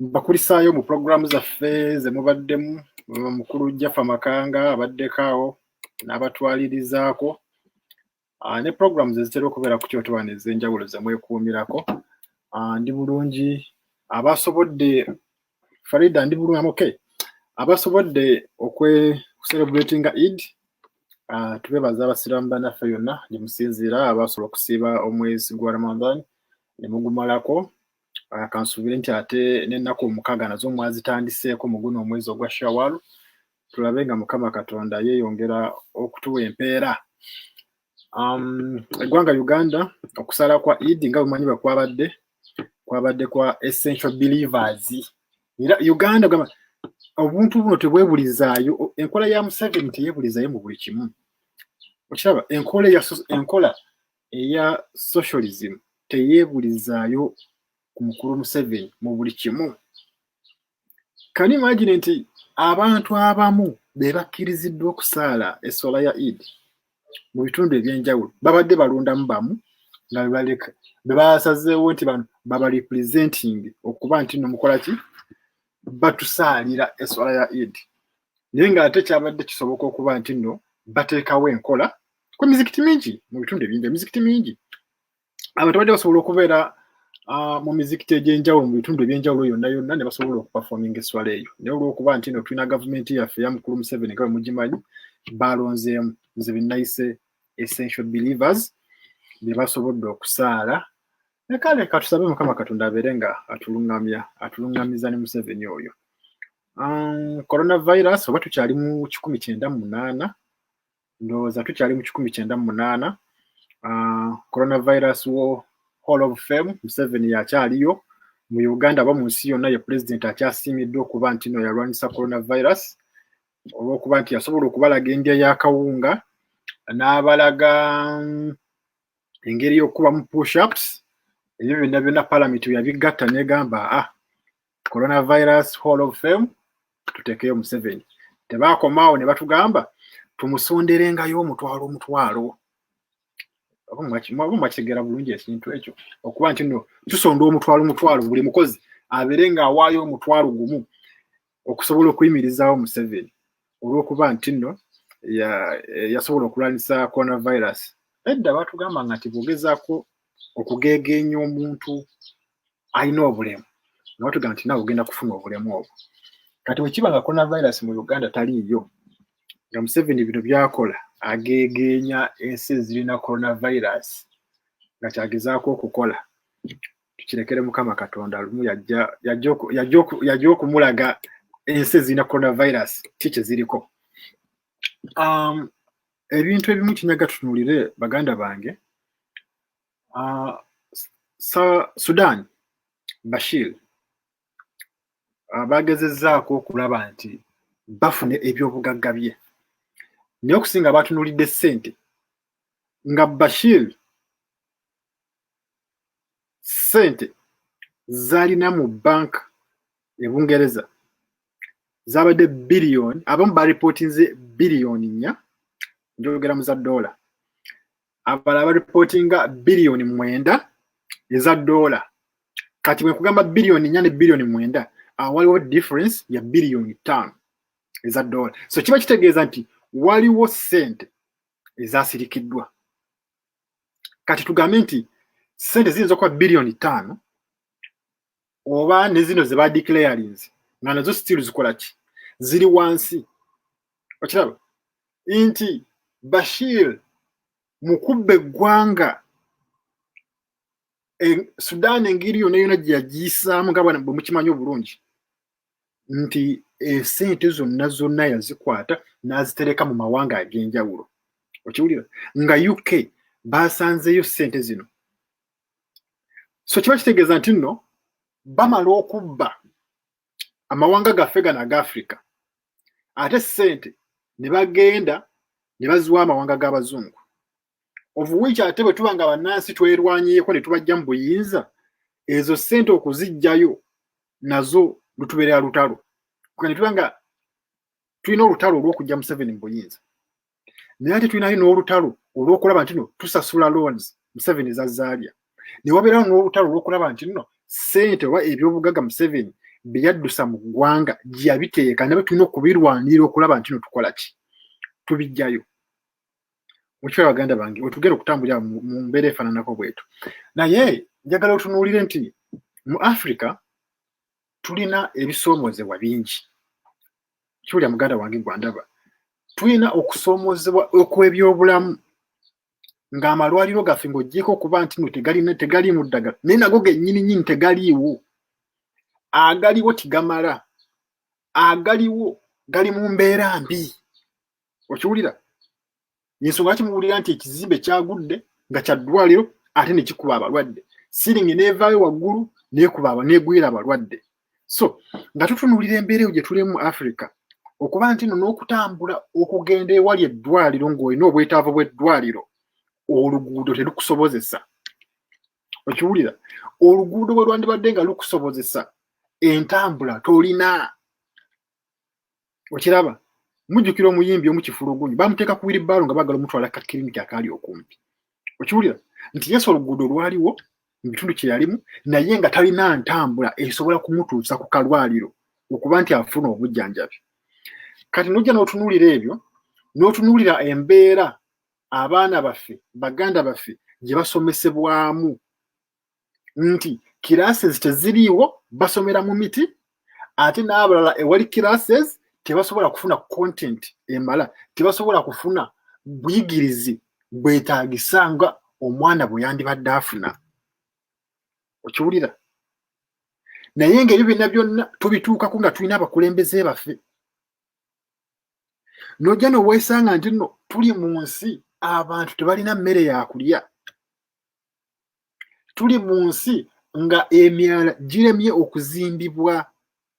mbakulisaayo mu pulogulaamu zaffe ze mubaddemu mukulu jaffa makanga abaddeko awo n'abatwalirizaako ah, ne pulogulaamu ze zitera okubeera ku kyotowana ez'enjawulo ze mwekuumirako ah, ndi bulungi abasobodde farida ndi bulungi amuke abasobodde okweserebratinga id ah, tubebaza abasiraamu banaffe yonna gye musinziira abasobola okusiiba omwezi gwa ramadan ne mugumalako ah, kansuubire nti ate n'ennaku omukaaga nazo mwazitandiseeko mu guno omwezi ogwa shawalu tulabe nga mukama katonda yeeyongera okutuwa empeera um, eggwanga uganda okusala kwa idi nga bumanyi bwe kwabadde kwabadde kwa essential believers era uganda gamba obuntu buno tebwebulizaayo enkola ya museveni teyebulizayo mu buli kimu okiraba enkola enkola eya socialism teyeebulizaayo ku mukulu museveni mu buli kimu kani imagine nti abantu abamu be bakkiriziddwa okusaala esswala ya id mu bitundu ebyenjawulo babadde balondamu bamu nga bebasazeewo nti bano babarepresenting okuba nti no mukola ki batusaalira esswala ya id naye ng'ate kyabadde kisoboka okuba nti nno bateekawo enkola ku mizikiti mingi mu bitundu ebingi emizikiti mingi abantu bajja basobola okubeera ah, mu mizikiti egy'enjawulo mu bitundu eby'enjawulo yonna yonna ne basobola okupafominga esswala eyo naye olw'okuba nti no tulina gavumenti yaffe ya mukulu museveni nga bwe mugimanyi baalonzeemu nze benayise essential believers be basobodde okusaala nekale katusabe mukama katonda abeere nga atulungamya atulungamiza ne museveni oyo um, coronavirus oba tukyali mu kikumi kyenda mu munaana ndowooza tukyali mu kikumi kyenda mu munaana ah, coronavirus wo hall of fame museveni yakyaliyo mu uganda aba mu nsi yonna ye pulezidenti akyasiimiddwa okuba nti no yalwanyisa coronavirus olwokuba nti yasobola okubalaga endya yakawunga n'abalaga mm, engeri y'okukubamu pushups ebyo byonna byonna palamenti yabigatta negamba a ah, coronavirus hall of fame tutekeyo museveni tebakomaawo ne batugamba tumusonderengayo omutwalo omutwalo mwakitegeera bulungi ekintu ekyo okuba nti no tusonda omutwalo omutwalo buli mukozi abeere ng'awaayo omutwalo gumu okusobola okuyimirizaawo museveni olwokuba nti no yasobola okulwanyisa coronavirus edda batugamba nga nti bwogezako okugeegeenya omuntu alina obulemu nabatugamba nti nawe ogenda kufuna obulemu obwo kati wekiba nga coronavirus mu uganda taliiyo nga museveni bino byakola agegeenya ensi ezirina coronavirus nga kyagezaako okukola tukirekere mukama katonda lumu yajja okumulaga ensi ezirina coronavirus ki kyeziriko um, ebintu ebimu kinyaga tutunulire baganda bange Uh, sa Sudan Bashir ah, bagezezzaako okulaba nti bafuna ebyobugagga bye naye okusinga batunulidde ssente nga Bashir ssente zalina mu bank e Bungereza zabadde biliyoni abamu balipootinze biliyoni nnya njogera mu za doola abalala baripootinga biliyoni mwenda eza doola kati bwe nkugamba biliyoni nnya ne biliyoni mwenda awo waliwo difference ya biliyoni ttaano eza doola so kiba kitegeeza nti waliwo ssente ezasirikiddwa kati tugambe nti ssente ziyinza okuba biliyoni ttaano oba ne zino ze badeclarinze nga nazo still zikola ki ziri wansi okiraba nti bashir mu kubba eggwanga e, sudan engeri yona yona gye yagiyisaamu nga bwana bwe mukimanyi obulungi nti esente zonna zonna yazikwata n'azitereka mu mawanga ag'enjawulo okiwulira nga uk baasanzeeyo sente zino so kiba kitegeeza nti nno bamala okubba amawanga gaffe gano aga afrika ate ssente ne bagenda ne baziwa amawanga g'abazungu ovuwiiki ate bwe tuba nga bannansi twerwanyeeko ne tubajja mu buyinza ezo ssente okuziggyayo nazo lutubeerera lutalo kugane tuba nga tulina olutalo olw'okujja museveni mu buyinza naye ate tulinayo n'olutalo olw'okulaba nti no tusasula loans museveni zazaalya ne wabeerawo n'olutalo olw'okulaba nti no sente oba ebyobugaga museveni bye yaddusa mu ggwanga gye yabiteeka nabe tulina okubirwanirira okulaba nti no tukola ki tubijjayo mukiwa baganda bange wetugenda okutambulira mu mbeera efaananako bwetu naye njagala otunuulire nti mu africa tulina ebisoomozebwa bingi kiwulya muganda wange gwandaba tulina okusoomozebwa okw'ebyobulamu ng'amalwaliro gaffe ng'ogyeko okuba nti no tegalina tegaliimu ddagala naye nago gennyini nyini tegaliiwo agaliwo tigamala agaliwo gali mu mbeera mbi okiwulira yensonga lwaki muwulira nti ekizimbe kyagudde nga kya ddwaliro ate ne kikuba abalwadde siringi neevaayo waggulu neekuba aba negwira abalwadde so nga tutunuulira embeera eyo gye tulimu mu africa okuba nti no n'okutambula okugenda ewali eddwaliro ng'olina obwetaavu bw'eddwaliro oluguudo terukusobozesa okiwulira oluguudo bwe lwandibadde nga lukusobozesa entambula tolina okiraba mujjukira omuyimbi omu kifulugunyu bamuteeka ku wiribaalo nga bagala omutwala kakiriniki akaali okumpi okiwulira nti yesu oluguudo lwaliwo mu bitundu kye yalimu naye nga talina ntambula esobola kumutuusa ku kalwaliro okuba nti afuna obujjanjabi kati nojja n'otunuulira ebyo n'otunuulira embeera abaana baffe baganda baffe gye basomesebwamu nti classes teziriiwo basomera mu miti ate n'abalala ewali classes tebasobola kufuna content emala tebasobola kufuna buyigirizi bwetaagisa nga omwana bwe yandibadde afuna okiwulira naye ngaebyo byonna byonna tubituukako nga tulina abakulembeze baffe nojja nowesanga nti no tuli mu nsi abantu tebalina mmere yakulya tuli mu nsi nga emyala giremye okuzimbibwa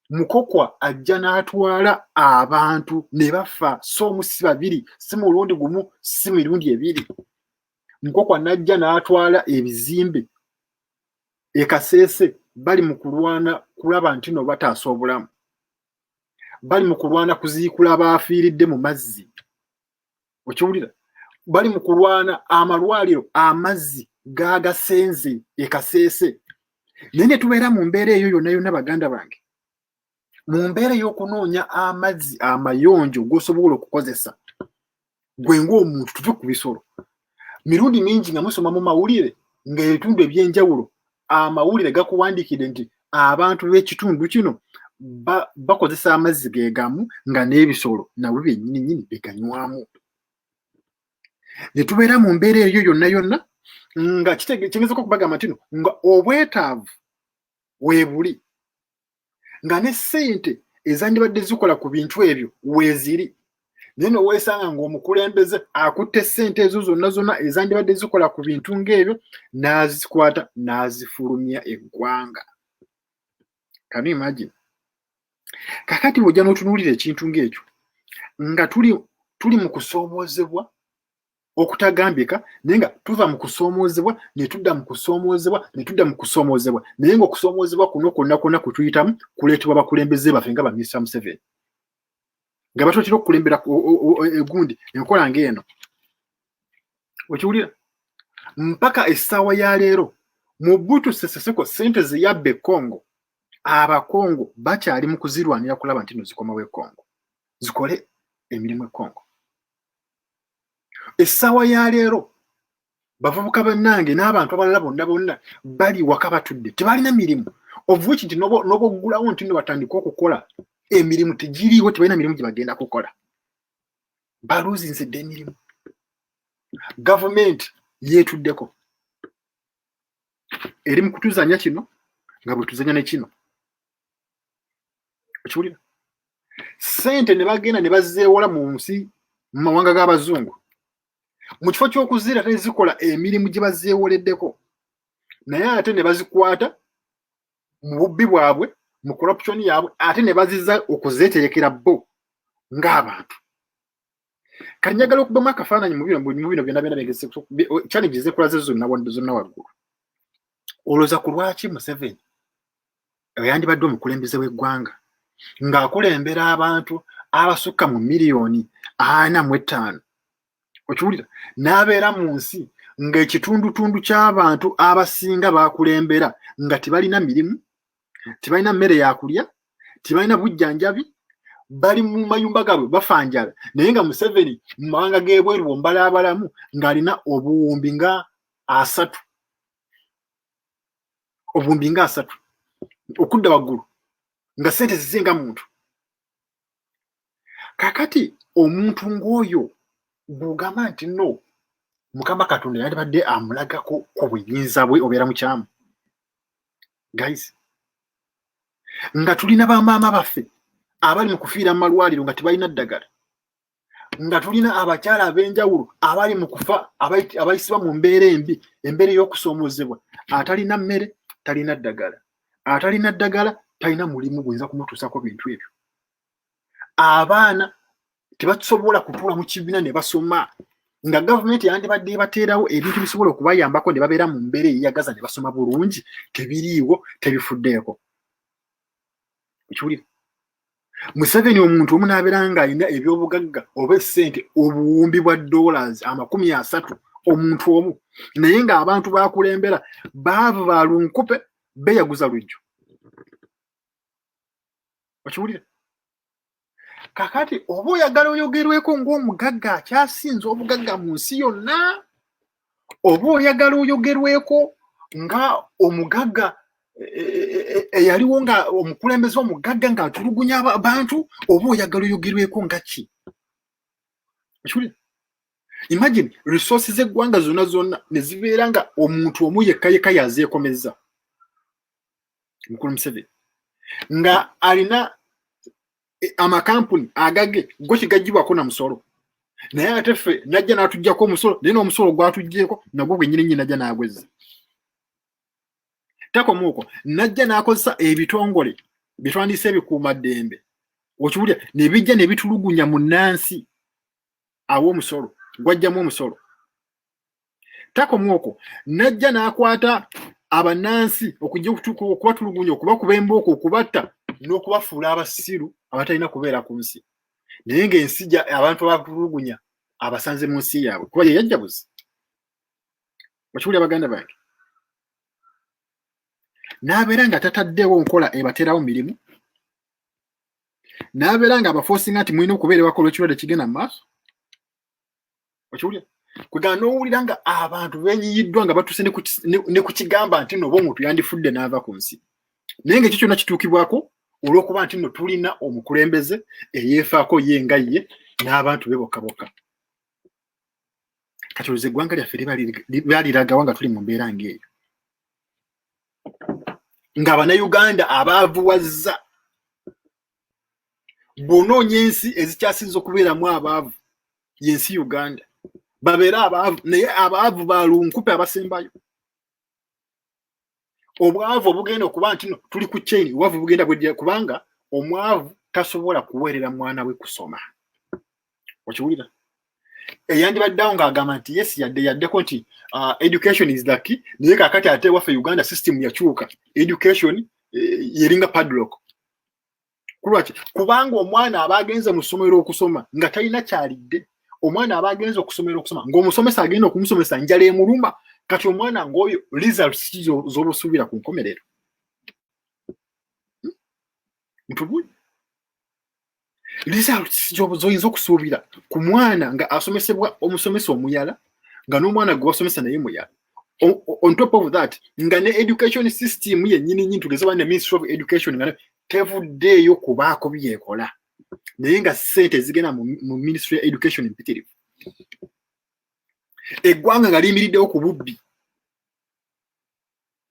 mukokwa ajja n'atwala abantu ne bafa si omu si babiri si mulundi gumu si mirundi ebiri mukokwa n'ajja n'atwala ebizimbe ekaseese bali mu kulwana kulaba nti no bataasa obulamu bali mu kulwana kuziikula baafiiridde mu mazzi okiwulira bali mu kulwana amalwaliro amazzi gagasenze ekaseese naye ne tubeera mu mbeera eyo yonna yonna baganda bange mu mbeera ey'okunoonya amazzi amayonjo g'osobola okukozesa gwe ng'omuntu tuve ku bisolo mirundi mingi nga musoma mu mawulire ng'ebitundu eby'enjawulo amawulire gakuwandiikidde nti abantu b'ekitundu kino bakozesa amazzi gegamu nga n'ebisolo nabwe byennyini nyini beganywamu ne tubeera mu mbeera eyo yonna yonna nga kitegeezako okubagamba ntino nga obwetaavu webuli nga ne ssente ezandibadde zikola ku bintu ebyo weeziri naye noweesanga ng'omukulembeze akutte ssente ezo zonna zonna ezandibadde zikola ku bintu ng'ebyo n'azikwata n'azifulumya eggwanga kanu imagine kakati bwojja n'otunuulira ekintu ng'ekyo nga tuli tuli mu kusoomoozebwa okutagambika naye nga tuva mu kusoomoozebwa ne tudda mu kusoomoozebwa ne tudda mu kusoomoozebwa naye nga okusoomoozebwa kuno kwonna kwonna kwe tuyitamu kuleetebwa bakulembeze baffe nga baminisita museveni nga batotera okukulembera egundi enkola ngaeno okiwulira mpaka essaawa ya leero mu butu seseseko sente zeyabba ekongo abakongo bakyali mu kuzirwanira kulaba nti no zikomawo ekongo zikole emirimu ekongo essaawa ya leero bavubuka bannange n'abantu abalala bonna bonna bali waka batudde tebalina mirimu ovuki nti noboggulawo nti no batandika okukola emirimu tegiriiwo tebalina mirimu gye bagenda kukola baluuzinze dda emirimu gavumenti yeetuddeko eri mu kutuzanya kino nga bwe tuzanya ne kino okiwulira sente ne bagenda ne bazeewola mu nsi mu mawanga g'abazungu mu kifo ky'okuziira ate zikola emirimu gye bazeewoleddeko naye ate ne bazikwata mu bubbi bwabwe mu corruption yaabwe ate ne baziza okuzeeterekera bo ng'abantu kanyagala okubamu akafaananyi mu bino byona byona challenge zekulaze zonna waggulu olowooza ku lwaki museveni yandibadde omukulembeze w'eggwanga ng'akulembera abantu abasukka mu miliyoni ana mu ettaano okiwulira n'abeera mu nsi ng'ekitundutundu ky'abantu abasinga bakulembera nga tebalina mirimu tebalina mmere yakulya tebalina bujjanjabi bali mu mayumba gaabwe bafanjala naye nga museveni mu mawanga g'ebweru bombala abalamu ng'alina obuwumbi nga asatu obuwumbi nga asatu okudda waggulu nga sente zize nga muntu kakati omuntu ng'oyo gwogamba nti no mukama katonda yalibadde amulagako ku buyinza bwe obeera mukyamu guys nga tulina bamaama baffe abali mu kufiira mu malwaliro nga tebalina ddagala nga tulina abakyala ab'enjawulo abali mu kufa abayisibwa mu mbeera embi embeera ey'okusoomozebwa atalina mmere talina ddagala atalina ddagala talina mulimu guyinza kumutuusako bintu ebyo abaana tebasobola kutuula mu kibiina ne basoma nga gavumenti yandibadde ebateerawo ebintu bisobola okubayambako ne babeera mu mbeera eyeyagaza ne basoma bulungi tebiriiwo tebifuddeeko okiwulira museveni omuntu omu nabeera nga alina ebyobugagga oba esente obuwumbi bwa dollars amakumi asatu omuntu omu naye nga abantu bakulembera baavu ba lunkupe beyaguza lujjo okiwulira kakati oba oyagala oyogerweko ng'omugagga akyasinze obugagga mu nsi yonna oba oyagala oyogerweko nga omugagga eyaliwo e, e, e, nga omukulembeze omugagga ng'atulugunya abantu oba oyagala oyogerweko nga ki imagine resources z'eggwanga zonna zonna ne zibeera nga omuntu omu yekka yekka yazeekomezza mukulu museveni nga alina e, amakampuni agage go kigajibwako na musolo naye ate ffe najja natujjako omusolo naye nomusolo gwatujjeeko nagwo gwenyini nyi najja nagwezza takomuuko najja nakozesa ebitongole byetwandiisa ebikuuma ddembe okiwulira nebijja nebitulugunya mu nansi awo omusolo gwajjamu omusolo takomu okwo najja n'akwata abanansi okujja okubatulugunya okubakuba embooko okubatta n'okubafuula abasiru abatalina kubeera ku nsi naye ng'ensi abantu abatulugunya abasanze mu nsi yaabwe kuba ye yajjabuzi okiwulira baganda bange n'abeera nga tataddewo nkola ebateerawo mirimu n'abeera nga abafoosinga nti mulina okubeera ewaka olw'ekirwadde kigenda mu maaso okiwulira kwegana n'owulira nga abantu benyiyiddwa nga batuuse ne ku kigamba nti no oba omuntu yandifudde n'ava ku nsi naye nga ekyo kyonna kituukibwako olw'okuba nti no tulina omukulembeze eyeefaako ye nga ye n'abantu be bokka bokka kati oluze eggwanga lyaffe baliragawa nga tuli mu mbeera ng'eyo nga banauganda abaavuwazza bw'onoonya ensi ezikyasinza okubeeramu abaavu y'ensi uganda babeere abaavu naye abaavu ba lunkupe abasembayo obwavu obugenda okuba nti no tuli ku chain obwavu bugenda bwedira kubanga omwavu tasobola kuweerera mwana we kusoma okiwulira eyandibadde awo ng'agamba nti yes yadde yaddeko nti uh, education is the key naye kakati ate waffe uganda system yakyuka education eh, yeringa padlock kulwaki kubanga omwana aba agenze mu ssomero okusoma nga talina kyalidde omwana aba agenze okusomera okusoma ngaomusomesa agenda okumusomesa njala emuluma kati omwana ngaoyo results ki zobusuubira ku nkomerero hmm? ntubuli results zoyinza okusuubira ku mwana nga asomesebwa omusomesa omuyala nga n'omwana gwe wasomesa naye muyala on top of that nga ne education system yennyini nyini tugeze bane ministry of education nga tevuddeeyo kubaako byekola naye nga sente zigenda mu ministry ya education empitirivu eggwanga nga liyimiriddewo ku bubbi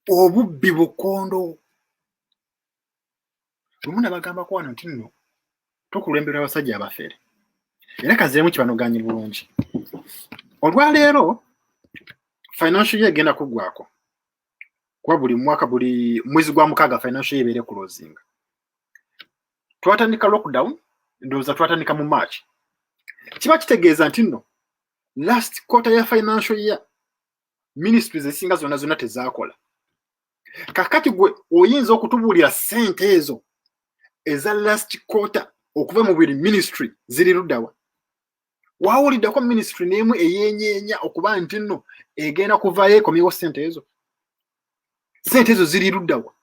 obubbi bukondo lumu nabagambako wano nti nno tukulembera abasajja abafere era kazeemu kibanoganye bulungi olwaleero financial ye egenda kuggwako kuba buli mwaka buli mwezi gwa mukaaga financial ye ebeere kulozinga twatandika lockdown ndowooza twatandika mu march kiba kitegeeza nti nno last quarter ya financial year ministries ezisinga zonna zonna tezaakola kakati gwe oyinza okutubuulira sente ezo eza last quarter okuva mu buli ministry ziri luddawa wawuliddeko ministry n'emu eyenyeenya okuba nti nno egenda kuvayo ekomyewo sente ezo sente ezo ziri luddawa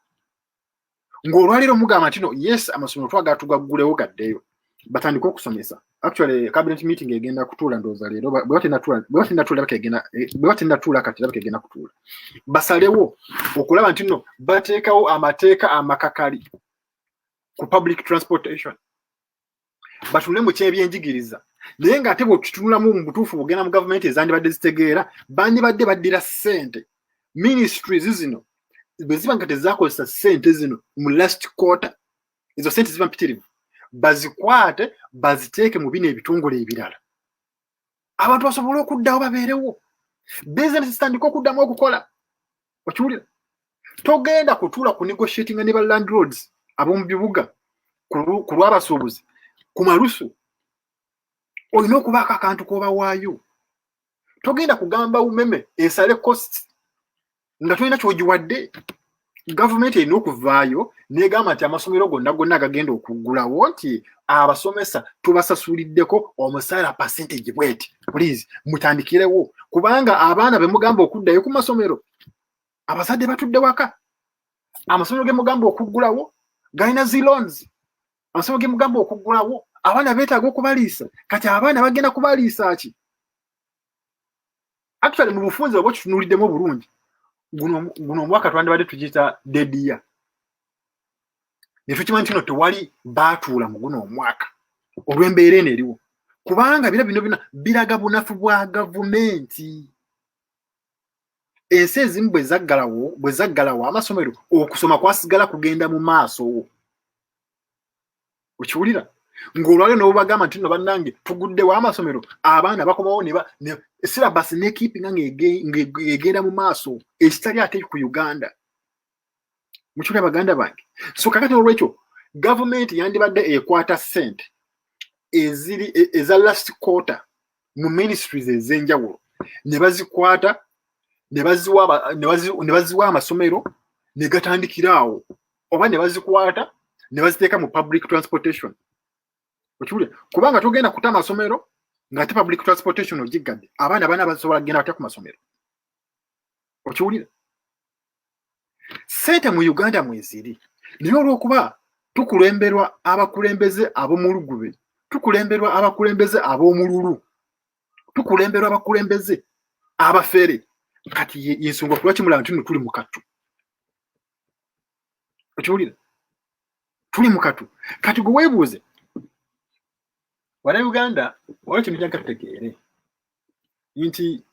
ng'olwaleero mugamba ntino yes amasomero twagala tugaggulewo gaddeyo batandike okusomesa actually cabinet meeting egenda kutuula ndooza leero bwebatenatuula kati labika egenda kutuula basalewo okulaba nti no bateekawo amateeka amakakali ku public transportation batule mu kyebyenjigiriza naye nga ate bwetutunulamu mu butuufu bugenda mu gavumenti ezandibadde zitegeera bandibadde baddira ssente ministries zino bwe ziba nga tezakozesa ssente zino mu last quarter ezo ssente ziba mpitirivu bazikwate baziteeke mu bino ebitongole ebirala abantu basobole okuddawo babeerewo bizinesi zitandika okuddamu okukola okiwulira togenda kutuula ku negotiatinga ne ba landlords ab'omu bibuga ku lw'abasuubuzi ku malusu olina okubaako akantu k'obawaayo togenda kugamba umeme esale cost nga tolina kyogiwadde gavumenti erina okuvaayo negamba nti amasomero gonna gonna agagenda okuggulawo nti abasomesa tubasasuliddeko omusaala percentage bweti please mutandikirewo kubanga abaana bemugamba okuddayo ku masomero abazadde batudde waka amasomero gemugamba okuggulawo galina zi loans amasomero gemugamba okuggulawo abaana betaaga okubaliisa kati abaana bagenda kubaliisa ki actually mu bufunze oba okitunulidemu obulungi guno omwaka twandibadde tugiyita dediya ne tukimanyi kino tewali baatuula mu guno omwaka olw'embeera eno eriwo kubanga bira bino bina biraga bunafu bwa gavumenti ensi ezimu bwe zaggalawo bwe zaggalawo amasomero okusoma kwasigala kugenda mu maaso wo okiwulira ng'olwaliro ne bubagamba nti no bannange tuguddewo amasomero abaana bakomawo sirabasi nekipinga ng'egenda mu maaso ekitali ate ku uganda mukyula baganda bange so kakati olwekyo gavumenti yandibadde ekwata sente eziri e, eza last quarter mu ministries ezenjawulo ne bazikwata ne baziwa amasomero ne gatandikira awo oba ne bazikwata ne baziteeka mu public transportation okiwulira kubanga togenda kuta amasomero ng'ate public transportation ogiggadde abaana bana basobola kugenda batya ku masomero okiwulira sente mu uganda mweziri naye olwokuba tukulemberwa abakulembeze ab'omulugube tukulemberwa abakulembeze ab'omululu tukulemberwa abakulembeze abafere kati yensonga kuba kimulaba nti no tuli mukatu okiwulira tuli mukatu kati gwe weebuuze wana uganda wala kino jagatutegeere nti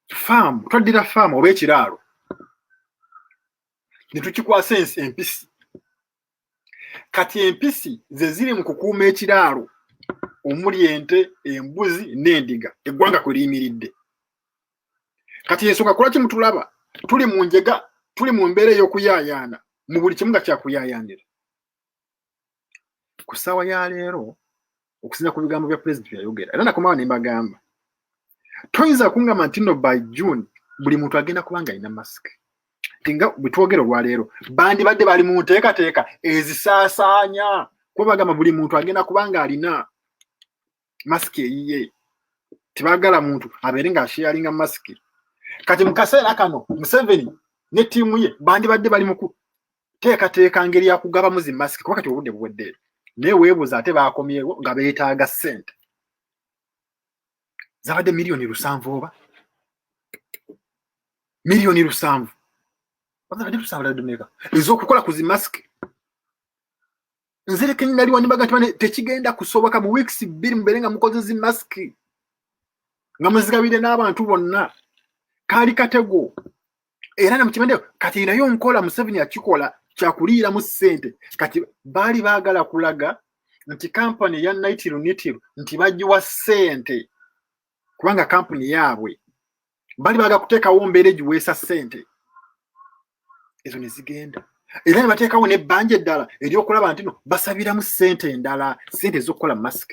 faamu twaddira faamu oba ekiraalo ne tukikwasa ensi empisi kati empisi ze ziri mu kukuuma ekiraalo omuli ente embuzi n'endiga eggwanga kwe liyimiridde kati ensonga kulwaki mutulaba tuli mu njega tuli mu mbeera ey'okuyaayaana mu buli kimu nga kyakuyaayaanira ku ssaawa ya leero okusinza ku bigambo bya pulezidenti yayogera era nakomawo ne mbagamba toyinza kungamba nti no by june buli muntu agenda kuba nga alina masiki nti nga bwe twogera olwaleero bandibadde bali mu nteekateeka ezisaasaanya kuba bagamba buli muntu agenda kuba nga alina masiki eyiye tebagala muntu abeere nga asheyalinga masiki kati mu kaseera kano museveni ne ttiimu ye bandibadde bali muku teekateeka ngeri ya kugabamu zi masiki kuba kati obudde buwedde naye weebuuza ate baakomyewo nga beetaaga ssente zabadde miliyoni lusanvu oba miliyoni lusanvu ez'okukola ku zi masiki nzirika nali wanibaga nti bane tekigenda kusoboka mu weeks bbiri mubeere nga mukoze zi masiki nga muzigabire n'abantu bonna kaali katego era namukimende kati naye onkola museveni akikola kyakuliiramu ssente kati baali baagala kulaga nti kampani ya naitirunitiru nti bagiwa ssente kubanga kampuni yaabwe bali baga kuteekawo mbeera egiweesa ssente ezo ne zigenda era ne bateekawo n'ebbanja eddala eryokulaba nti no basabiramu ssente endala ssente ez'okukola mask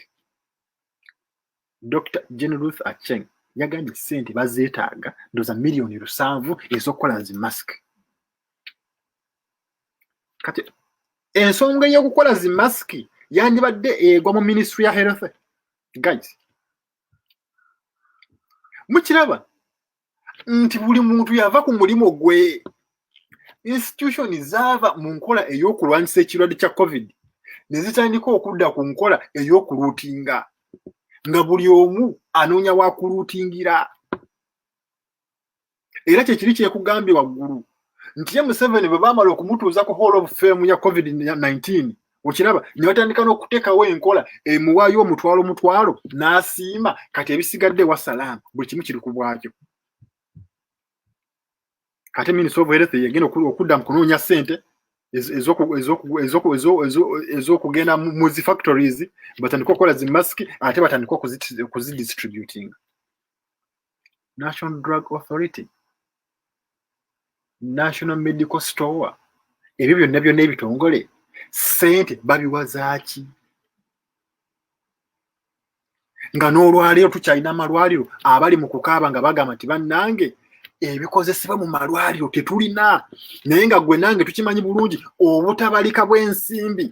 dr gen ruth acheng yagambye ssente bazeetaaga ndoza miliyoni lusanvu ez'okukola zi mask kati ensonga ey'okukola zi masiki yandibadde egwa mu ministry ya health guys mukiraba nti buli muntu yava ku mulimu gwe institution zaava mu nkola ey'okulwanyisa ekirwadde kya covid ne zitandika okudda ku nkola ey'okuluutinga nga buli omu anoonya wakuluutingira era kyekiri kyekugambye waggulu nti ye museveni bwe baamala okumutuuza ku hall of fame ya covid 19 okiraba ne batandika n'okuteekawo enkola emuwaayo omutwalo omutwalo n'asiima kati ebisigadde ewa salaamu buli kimu kiri ku bwakyo ate minisita of health yegenda okudda mu kunoonya ssente ez'okugenda mu zi factories batandika okukola zi masiki ate batandika okuzidistributinga national drug authority national medical store ebyo byonna byonna ebitongole sente babiwa zaaki nga n'olwaleero tukyalina amalwaliro abali mu kukaaba nga bagamba nti bannange ebikozesebwa mu malwaliro tetulina naye nga gwe nange tukimanyi bulungi obutabalika bw'ensimbi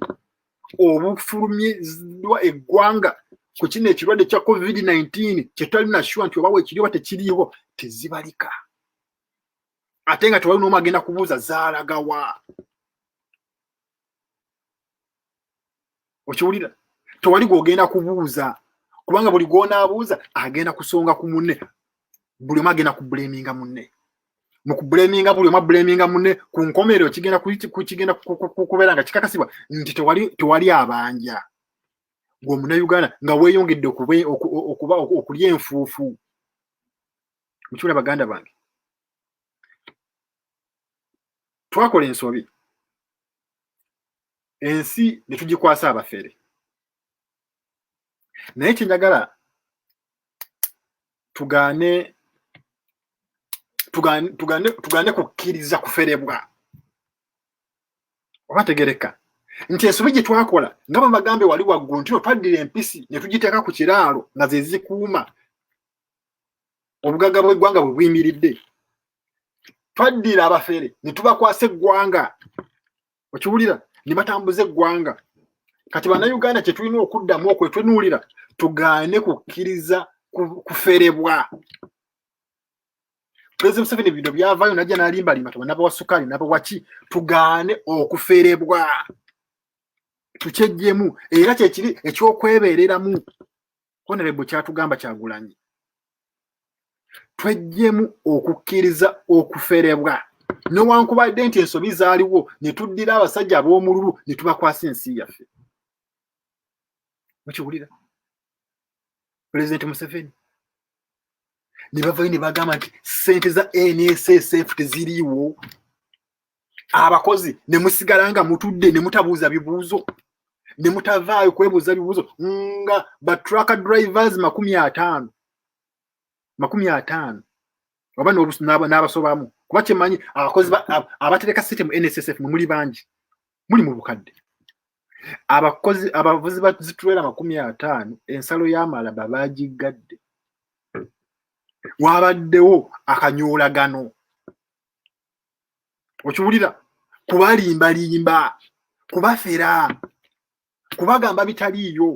obufulumiziddwa eggwanga ku kino ekirwadde kya covid-19 kyetwali nashuwa nti oba wekiriwa tekiriiwo tezibalika ate nga tewali noomu agenda kubuuza zaalagawa okiwulira tewali gwogenda kubuuza kubanga buli gwonaabuuza agenda kusonga ku munne buli omu agenda kubuleminga munne mu kubuleminga buli omu abuleminga munne ku nkomerero kigenda kigenda kubeera nga kikakasibwa nti tewali tewali abanja gweomunauganda nga weyongedde okuba okulya enfuufu mukiula baganda bange twakola ensobi ensi netugikwasa abafere naye kyenjagala tugaane tugaane kukkiriza kuferebwa oba tegereka nti ensobi gye twakola nga bamagambe wali waggulu ntino twaddira empisi ne tugiteeka ku kiraalo nga ze zikuuma obugagga bw'eggwanga bwe buyimiridde twaddira abafere ne tubakwasa eggwanga okiwulira ne batambuza eggwanga kati bannayuganda kye tulina okuddamu okwetunuulira tugaane kukkiriza kuferebwa pulezidenti museveni bino byavayo najja nalimbalimba taba nabawa sukaali nabawa ki tugaane okuferebwa tukyejjemu era kyekiri ekyokwebeereramu honorable kyatugamba kyagulanyi twejjemu okukkiriza okuferebwa newankubadde nti ensobi zaaliwo ne tuddira abasajja ab'omululu ne tubakwasa ensi yaffe mukiwulira pulezidenti museveni ne bavayo ne bagamba nti sente za nss teziriiwo abakozi ne musigala nga mutudde ne mutabuuza bibuuzo ne mutavaayo kwebuuza bibuuzo nga ba truck drivers makumi ataano makumi ataano oba n'abasobamu kuba kyemanyi abakozi abatereka sente mu nssf mwe muli bangi muli mu bukadde abakozi abavuzi bazitulera makumi ataano ensalo y'amalaba baagiggadde wabaddewo akanyoolagano okiwulira kubalimbalimba kubafera kubagamba bitaliiyo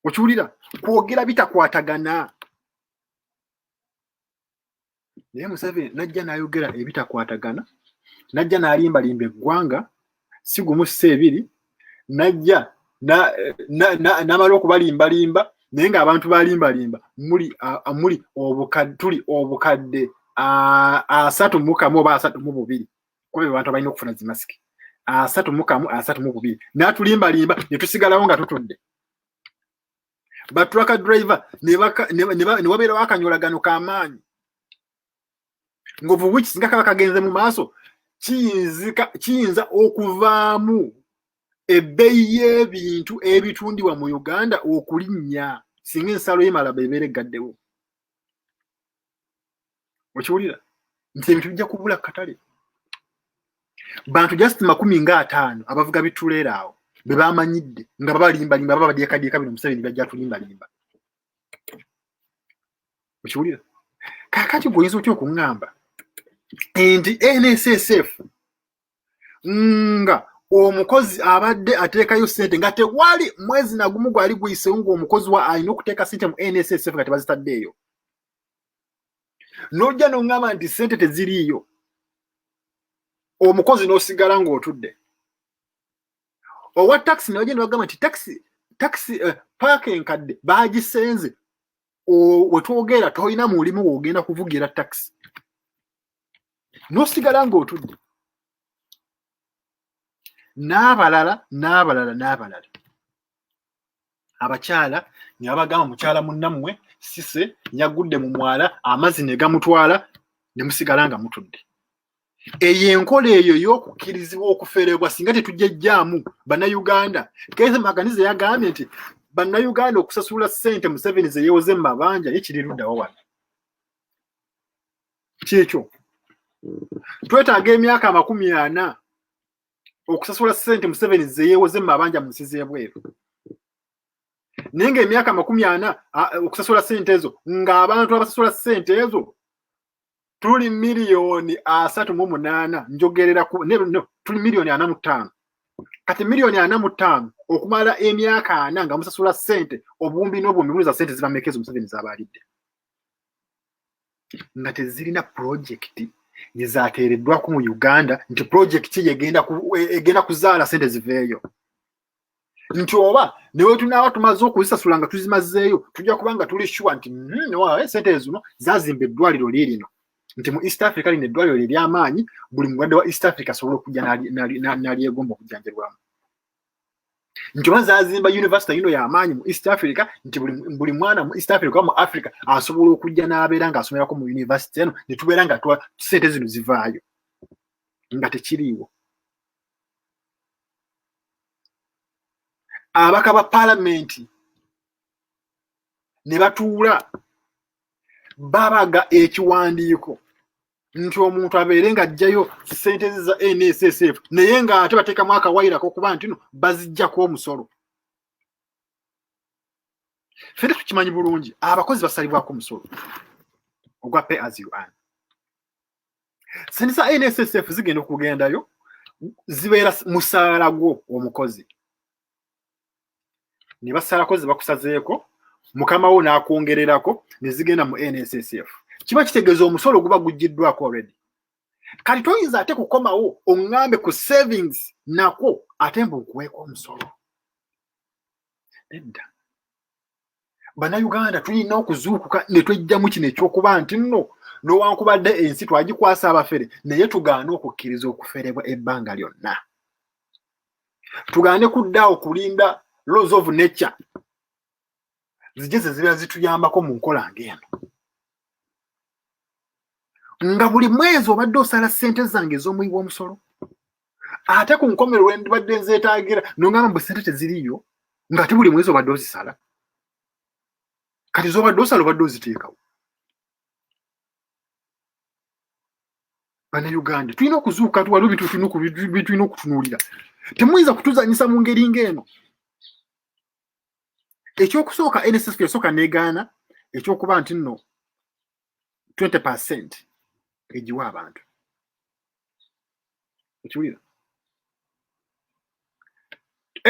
okiwulira kwogera bitakwatagana naye museveni najja nayogera ebitakwatagana najja nalimbalimba eggwanga si gumu si ebiri najja n'amala okubalimbalimba naye ng'abantu balimbalimba muli muli tuli obukadde asatu mukamu oba asatu mu bubiri kuba be bantu abalina okufuna zimasiki asatu mukamu asatu mu bubiri n'atulimbalimba ne tusigalawo nga tutudde batrucka driver ne wabeerawo akanyolagano k'amaanyi ngovu wiki singa kaba kagenze mu maaso kiyinza okuvaamu ebbeyi y'ebintu ebitundibwa mu uganda okulinnya singa ensalo yemala bebeera eggaddewo okiwulira nti ebintu bijja kubula katale bantu just makumi nga ataano abavuga bituleera awo be bamanyidde nga babalimbalimba babadyekadyeka bino museveni bajja tulimbalimba okiwulira kakati gwe oyinza otya okuŋŋamba nti nssf nga omukozi abadde ateekayo sente nga tewali mwezi nagumu gwali guyisewo ngaomukozi wa alina okuteeka sente mu nssf nga tebazitaddeeyo nojja noŋŋamba nti sente teziriiyo omukozi n'osigala ng'otudde owa takisi newagenda bagamba nti takisi takisi eh, paaka enkadde baagisenze wetwogera tolina mulimu wogenda kuvugira taxi nosigala ngaotudde n'abalala n'abalala n'abalala abakyala nebagamba mukyala munnammwe sise yagudde mu mwala amazzi negamutwala nemusigala nga mutudde eyo enkola eyo ey'okukkirizibwa okuferebwa singa tetujejjaamu bannayuganda kese maganiza yagambye nti bannayuganda okusasula ssente museveni zeyewoze mu mabanja ye kiri luddawa wano kyekyo twetaaga emyaka amakumi ana okusasula ssente museveni zeyewoze mu mabanja mu nsi z'ebweru naye ngaemyaka amakumi ana okusasula ssente ezo ng'abantu abasasula ssente ezo tuli miliyoni asatu mu munaana njogerera ku no tuli miliyoni ana mu ttaano kati miliyoni ana mu ttaano okumala emyaka ana nga musasula ssente obuwumbi n'obuwumbi buliza ssente zibameka ezo museveni zabalidde nga tezirina pulojekiti ezateereddwaku mu uganda nti pulojekiti egenda e, kuzaala ssente ziveeyo nti oba newetunaaba tumaze okuzisasula nga tuzimazeeyo tujja kuba nga tuli shuwa nti hmm, eh, sente zino zazimba eddwaliro liirino nti mu east africa lino eddwaliro lyeryaamaanyi buli mulwadde wa east africa asobola okujja nalyegomba okujjanjabwamu nti oba zazimba univesita yino yamaanyi mu east africa nti buli mwana mu east africa mu africa asobola okujja n'abeera nga asomerako mu univesita eno netubeera nga sente zino zivaayo nga tekiriiwo abaka ba palamenti ne batuula babaga ekiwandiiko nti omuntu abeere nga ajjayo sente ze za nssf naye nga ate bateekamu akawayirako okuba nti no bazijjako omusolo fena tukimanyi bulungi abakozi basalibwako omusolo ogwa pay as you earn sinisa nssf zigenda okugendayo zibeera musaala gwo omukozi ne basalako ze bakusazeeko mukama wo n'akwongererako ne zigenda mu nssf kiba kitegeeza omusolo guba guggiddwako already kati toyinza ate kukomawo oŋŋambe ku savings nakwo ate mbu nkuweeko omusolo nedda bannayuganda tulina okuzuukuka ne twejjamu kino ekyokuba nti nno nowankubadde ensi twagikwasa abafere naye tugaane okukkiriza okuferebwa ebbanga lyonna tugaane kuddaawo kulinda laws of nature zije ze zibeera zituyambako mu nkola ngaeno nga buli mwezi obadde osala ssente zange ez'omuyi w'omusolo ate ku nkomero lwe ndibadde nzeetaagira nongamba mbu sente teziriyo ng'ate buli mwezi obadde ozisala kati zobadde osala obadde oziteekawo banauganda tulina okuzuuka waliwo bitulina okutunuulira temuyinza kutuzanyisa mu ngeri ng'eno ekyokusooka nss yasooka negaana ekyokuba nti nno 20 percent egiwa abantu okiwulira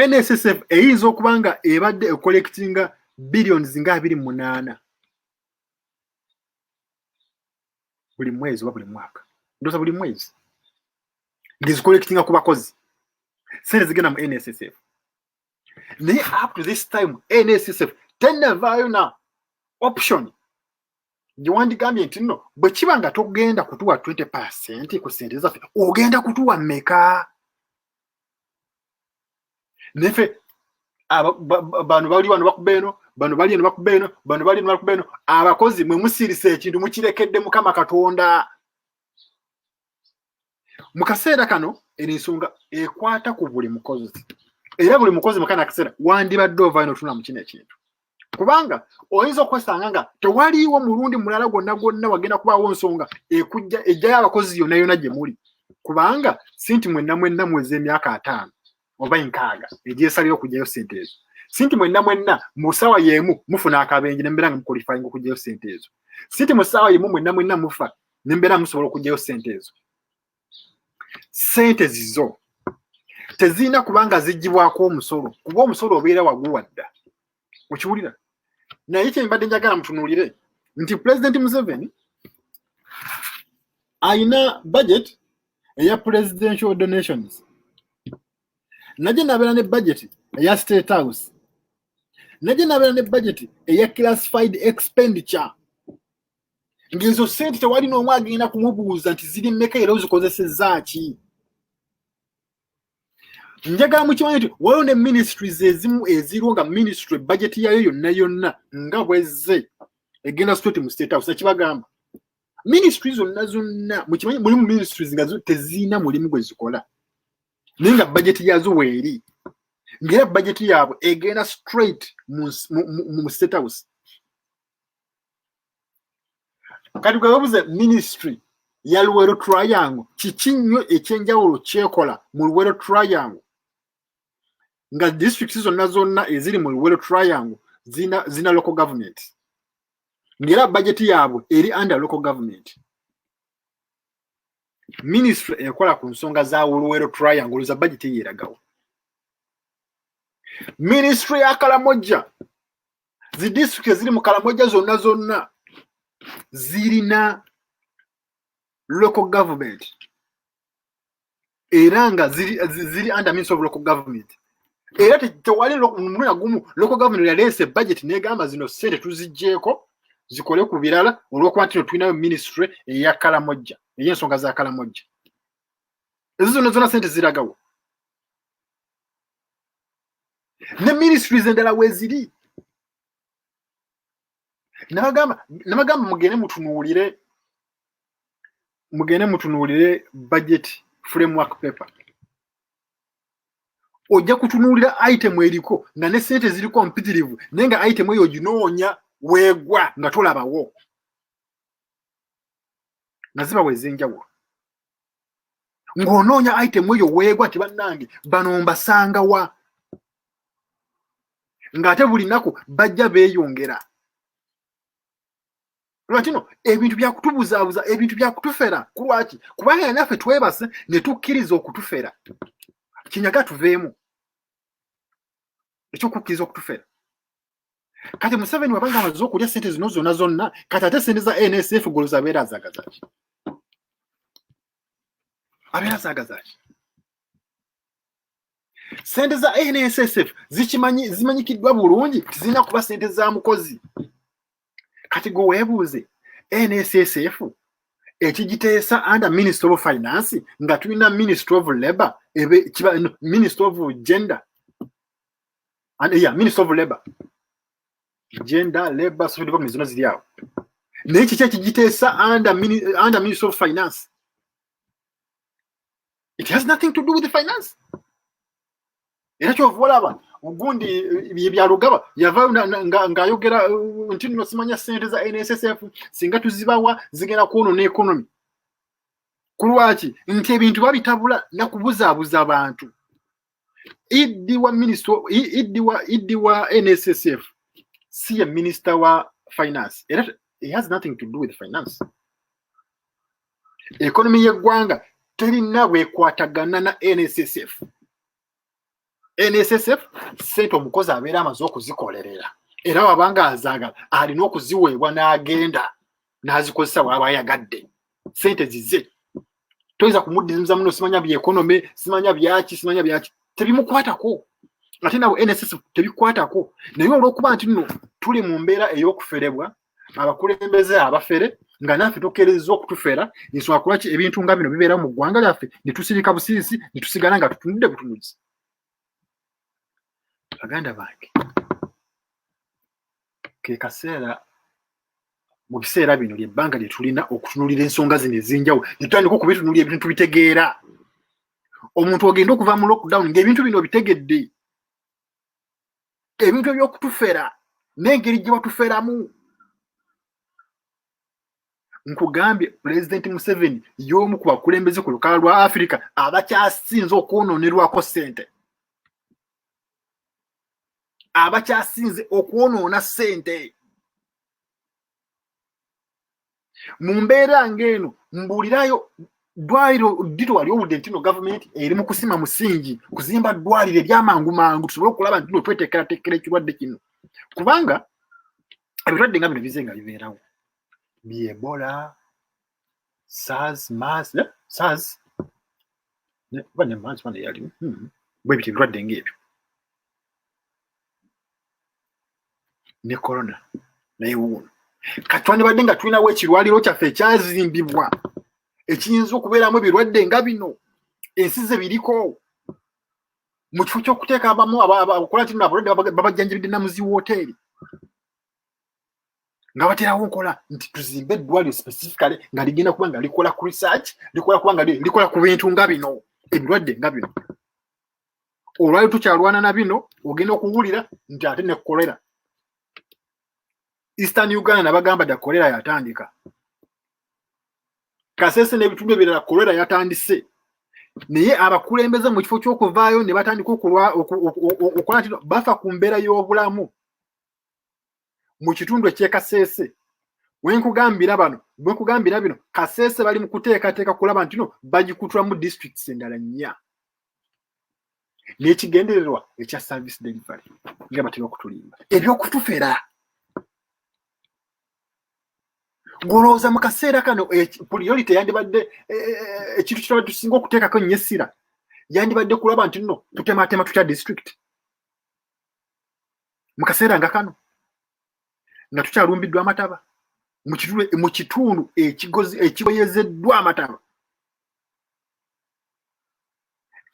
nssf eyinza okuba nga ebadde ecollectinga billions nga abiri munaana buli mwezi oba buli mwaka ndoza buli mwezi ngezicollectinga ku bakozi sente zigenda mu nssf naye up to this time nssf tenavaayo na option gyewandigambye nti nno bwe kiba nga togenda kutuwa 20 percent ku sente zaffe ogenda kutuwa meka nefe bano bali wano bakuba eno bano bali eno bakuba eno bano bali eno bakuba eno abakozi mwe musiirisa ekintu mukirekedde mukama katonda mu kaseera kano eno ensonga ekwata ku buli mukozi era buli mukozi mukana akaseera wandibadde ovaayo notuna mu kino ekintu kubanga oyinza okwesanga nga tewaliiwo mulundi mulala gwonna gwonna wagenda kubaawo nsonga ekujja ejjayo abakozi yonna yonna gye muli kubanga sinti mwenna mwenna mweza emyaka ataano oba enkaaga egyesalira okugyayo sente ezo sinti mwenna mwenna mu ssaawa y'emu mufuna akabenje nembeera nga mukolifayinga okugyayo sente ezo sinti mu ssaawa y'emu mwenna mwenna mufa nembeera musobola okugyayo sente ezo sente zizo tezirina kubanga zigibwako omusolo kuba omusolo obeera waguwadda okiwulira naye kyembadde njagala mutunuulire nti pulezidenti museveni alina budget eya presidential donations naje nabeera ne budget eya state house naje nabeera ne budget eya classified expenditure ngezo sente tewali n'omu agenda kumubuuza nti ziri mmeka era ozikozesezza ki njagala mukimanyi nti waliwo ne ministries ezimu eziriwo nga ministry bajeti yayo yonna yonna nga bwezze egenda straight mu state house nakibagamba ministry zonna zonna mukimanyi mulimu ministries nga teziina mulimu gwe zikola naye nga bajeti yazo weeri ngaera bajeti yaabwe egenda straight mu state house kati gwebabuze ministry ya luwero triangle kiki nnyo ekyenjawulo kyekola mu luwero triangle nga district zonna zonna eziri mu luwero triangle zina, zina local government ngaera bajeti yaabwe eri under local government ministry ekola ku nsonga za luwero triangle za bajeti yeeragawo ministry ya kalamojja zi district eziri mu kalamoja zonna zonna zirina local government era nga ziri, ziri under means of local government era tewali muluya gumu local government yaleese budget negamba zino sente tuzijjeeko zikole ku birala olwokuba ntino tulinayo ministry eya kalamojja eyensonga za kalamojja ezo zonna zonna sente ziragawo ne ministries endala weziri nabagamba nabagamba mugende mutunuulire mugende mutunuulire budget framework paper ojja kutunuulira item eriko nga ne sente ziriko mpitirivu naye nga item eyo oginoonya weegwa nga tolabawo nga zibawa ez'enjawulo ng'onoonya item eyo weegwa ti bannange bano mbasanga wa ng'ate buli nnaku bajja beeyongera lwakino ebintu byakutubuzaabuza ebintu byakutufera ku lwaki kubanga yanaffe twebase ne tukkiriza okutufera kinyaga tuveemu ekyokukkiriza okutufera kati museveni wabanga amaze okulya sente zino zona zonna kati ate sente za nsf goloza abeera azagazaki abeera azagazaki sente za nssf zikimanyi zimanyikiddwa bulungi nti zirina kuba sente za mukozi kati gwe weebuuze nssf ekigiteesa under ministry of finance nga tulina ministry of labor ministry of gender and yeah, minister of labor gender labor social development zino ziri awo naye kiki ekigiteesa under minister of finance it has nothing to do with the finance era kyova olaba gundi eh, byalugaba yavayo ng'ayogera eh, nti nno simanya sente za nssf singa tuzibawa zigenda kwonona ekonomi ku lwaki nti ebintu babitabula nakubuzaabuza abantu Iddi wa minister iddi wa iddi wa NSSF si ye minister wa finance era he has nothing to do with finance. Economy y'eggwanga terina bwekwatagana na NSSF. NSSF sente omukozi abeera amaze okuzikolerera era wabanga azaagala alina okuziweebwa n'agenda n'azikozesa bw'aba ayagadde sente zize toyinza kumuddiza muno simanya byekonome simanya byaki simanya byaki tebimukwatako ate nabo nss tebikwatako naye olwokuba nti nno tuli mu mbeera ey'okuferebwa abakulembeze abafere nga naffe tukereza okutufera ensonga kulwaki ebintu nga bino bibeerawo mu ggwanga lyaffe netusirika busirisi netusigala nga tutunudde butunuzi baganda bange ke kaseera mu biseera bino lyebbanga lye tulina okutunulira ensonga zino ezinjawulo netutandika okubitunulira ebintu tubitegeera omuntu ogenda okuva mu lockdown ngaebintu bino bitegedde ebintu ebyokutufera n'engeri gye batuferamu nkugambye pulezidenti museveni y'omu ku bakulembeze ku lukala lwa afirika abakyasinze okwononerwako ssente abakyasinze okwonoona ssente mu mbeera ng'eno mbuulirayo ddwaliro ddito wali owudde ntino gavumenti eri mu kusima musingi kuzimba ddwaliro ebyamangu mangu tusobole okulaba ntino tweteekerateekera ekirwadde kino kubanga ebirwadde nga bino bize nga bibeerawo byebola saz maz ne saz ne ba ne maz ba ne yali hmm. bwe biti birwadde ng'ebyo ne corona naye wuuno kati twandibadde nga tulinawo ekirwaliro kyaffe ekyazimbibwa ekiyinza okubeeramu ebirwadde nga bino ensi ze biriko mu kifo ky'okuteeka abamu abakola kino abalwadde babajjanjabidde namuzi wooteeri nga baterawo nkola nti tuzimbe eddwaliro specifically nga ligenda kuba nga likola ku research likola kuba nga likola ku bintu nga bino ebirwadde nga bino olwali tukyalwana na bino ogenda okuwulira nti ate ne kolera eastern uganda nabagamba da kolera yatandika kasese n'ebitundu ebirala kolera yatandise naye abakulembeze mu kifo ky'okuvaayo ne batandika okulwa okulwa nti bafa ku mbeera y'obulamu mu kitundu eky'e Kasese wenkugambira bano bwekugambira bino Kasese bali mu kuteekateeka kulaba ntino bagikutulamu districts endala nnya n'ekigendererwa ekya service delivery nga batera okutulimba ebyokutufera golowooza mu kaseera kano priority yandibadde e, e, e, ekintu kitaba tusinga okuteekako nnyo essira yandibadde kulaba nti nno tutematema tutya district mu kaseera nga kano nga tukyalumbiddwa amataba mu kitundu ekigoyezeddwa amataba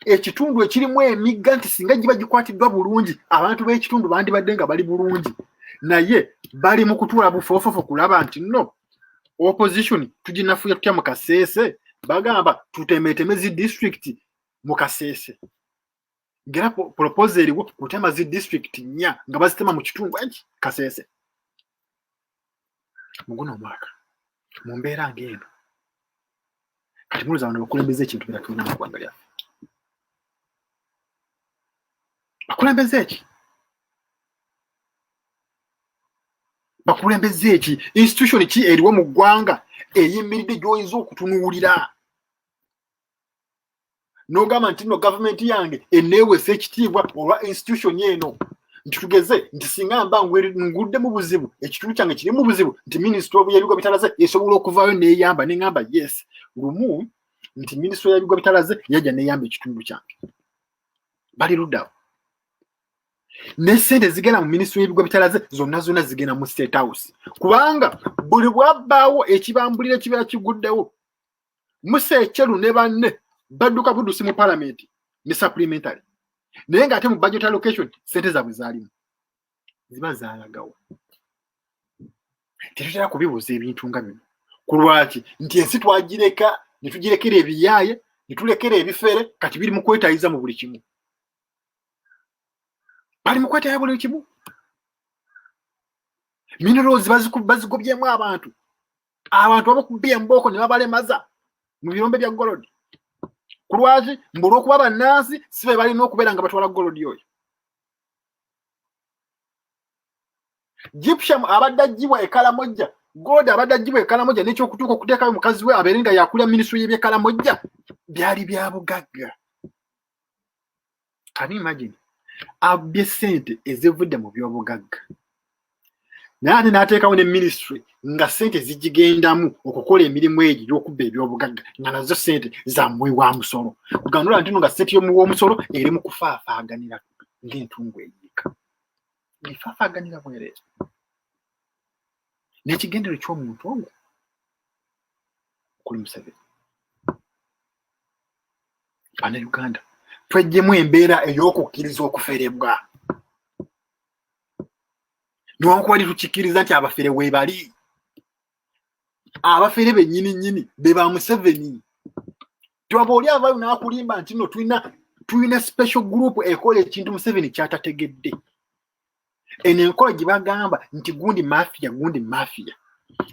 ekitundu ekirimu emigga nti singa giba gikwatiddwa bulungi abantu b'ekitundu bandibadde nga bali bulungi naye bali mu kutuula bufoofofo kulaba nti no opposition tuginafuya tutya mu kaseese bagamba tutemeeteme zi disitulikiti mu kaseese ngera propose eriwo kutema zi district nya nga bazitema mu kitundu eki kasese muguno omwaka mu mbeera ng'eno kati muluza bano bakulembeza ekintu bera tulina mu ggwanga lyaffe bakulembeza eki bakulembeza eki institution ki eriwo mu ggwanga eyimiridde gyoyinza okutunuulira n'ogamba nti no gavumenti yange eneewesa ekitiibwa olwa institution eno nti tugeze nti singa mba ngudde mu buzibu ekitundu kyange kiri mu buzibu nti minisita yabigwa bitalaze esobola okuvaayo neyamba neŋamba yes lumu nti minisita yabigwa bitalaze yajja neyamba ekitundu kyange bali luddawo nesente zigenda mu minisitule y'ebigwa bitalaze zonna zonna zigenda mu state house kubanga buli bwabbaawo ekibambulira ekibeera kiguddewo musa ekyelu ne banne badduka budusi mu palamenti ne supplementary naye nga ate mu budget allocation sente zabwe zalimu ziba zalagawo tetutera kubibuuza ebintu nga bino ku lwaki nti ensi twagireka ne tugirekera ebiyaaye ne tulekera ebifere kati biri mu kwetayiza mu buli kimu bali mu kwetaya buli kimu minerals bazikubazigobyemu abantu abantu abakubye embooko ne babalemaza mu birombe bya golodi ku lwaki mbu olwokuba bannansi si be balina okubeera nga batwala golodi oyo gypsum abadde aggyibwa ekalamojja golodi abadde aggyibwa ekalamojja n'ekyokutuuka okuteekayo mukazi we abeere nga yakulira minisitule y'ebyekalamojja byali bya bugagga kani imagine abbye sente ezivudde mu byobugagga naye ate n'ateekawo ne ministry nga sente zigigendamu okukola emirimu egyo gyokubba ebyobugagga nga nazo sente zamuwi wa musolo kuganula ntino nga sente yomuwi womusolo eri mu kufaafaaganira ng'entungu eyiika efaafaaganira bwereere n'ekigendero ky'omuntu ogwo okuli museveni bannayuganda twejjemu embeera ey'okukkiriza okuferebwa newakubali tukikkiriza nti abafere webali abafere bennyini nnyini be ba museveni twaba oli avayo n'akulimba nti no tulina tulina special group ekola ekintu museveni kyatategedde eno enkola gye bagamba nti gundi mafiya gundi mafiya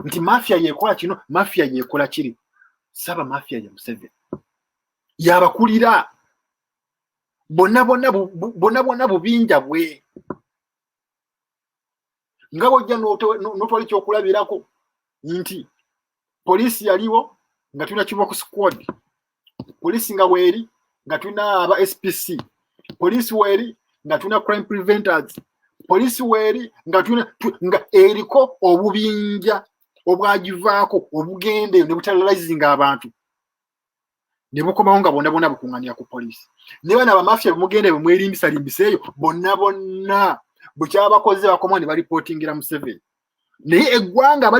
nti mafiya yekola kino mafiya yekola kiri saba mafiya ye museveni yabakulira bonna bonna bonna bonna bubinja bwe nga bojja notwala ekyokulabirako nti poliisi yaliwo nga tulina kiboko squad poliisi nga weeri nga tulina aba spc poliisi weeri nga tulina crime preventers poliisi weeri nga tulina nga eriko obubinja obwagivaako obugende ne butalazizinga abantu ne bukomawo nga bonna bonna bukuŋŋanira ku poliisi ne bana bamafiya bemugenda bemwerimbisalimbisaaeyo bonna bonna bwekyabakoze bakomawo ne balipootingira museveni naye eggwanga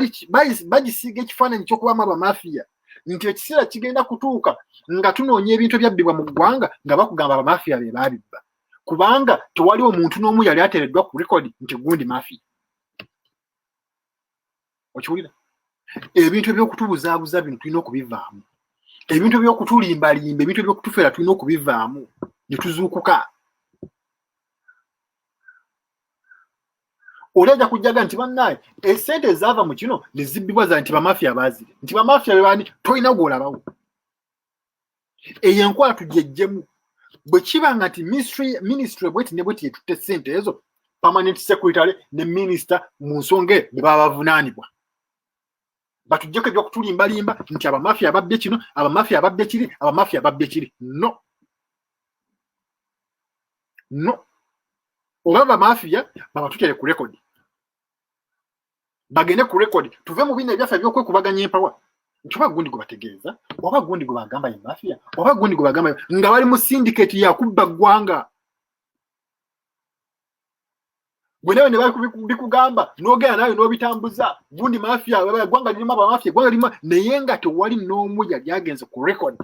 bagisiiga ekifaananyi kyokubamu abamafiya nti ekiseera kigenda kutuuka nga tunoonya ebintu ebyabbibwa mu ggwanga nga bakugamba abamafiya be baabibba kubanga tewali omuntu n'omu yali ateereddwa ku rekodi nti gundi mafiya okiwulira ebintu ebyokutubuzaabuza bino tulina okubivaamu ebintu ebyokutulimbalimba ebintu ebyokutufera tulina okubivaamu netuzuukuka oli ajja kujjaga nti bannaye esente ezaava mu kino nezibbibwa za nti bamafia baazire nti bamafia bebani tolina gwolabawo eyo enkola tugyejjemu bwe kiba nga nti minisitule bweti ne bweti yetutte sente ezo permanent secretary ne minisita mu nsonga eyo be baba bavunaanibwa batujjeko ebyokutulimbalimba nti abamafia ababbe kino abamafia ababbe kiri abamafia ababbe kiri no no oba bamafia babatutere ku rekodi bagende ku record tuve mu bino ebyaffe ebyokwekubaganya empawa nti oba gundi gwe bategeeza oba gundi gwe bagamba ye mafia oba gundi gwe bagamba nga bali mu syndicate yakubba ggwanga gwe nawe ne bikugamba n'ogenda nawe n'obitambuza gundi mafia eggwanga lirimu abamafia eggwanga lirimu naye nga tewali n'omu yali agenze ku record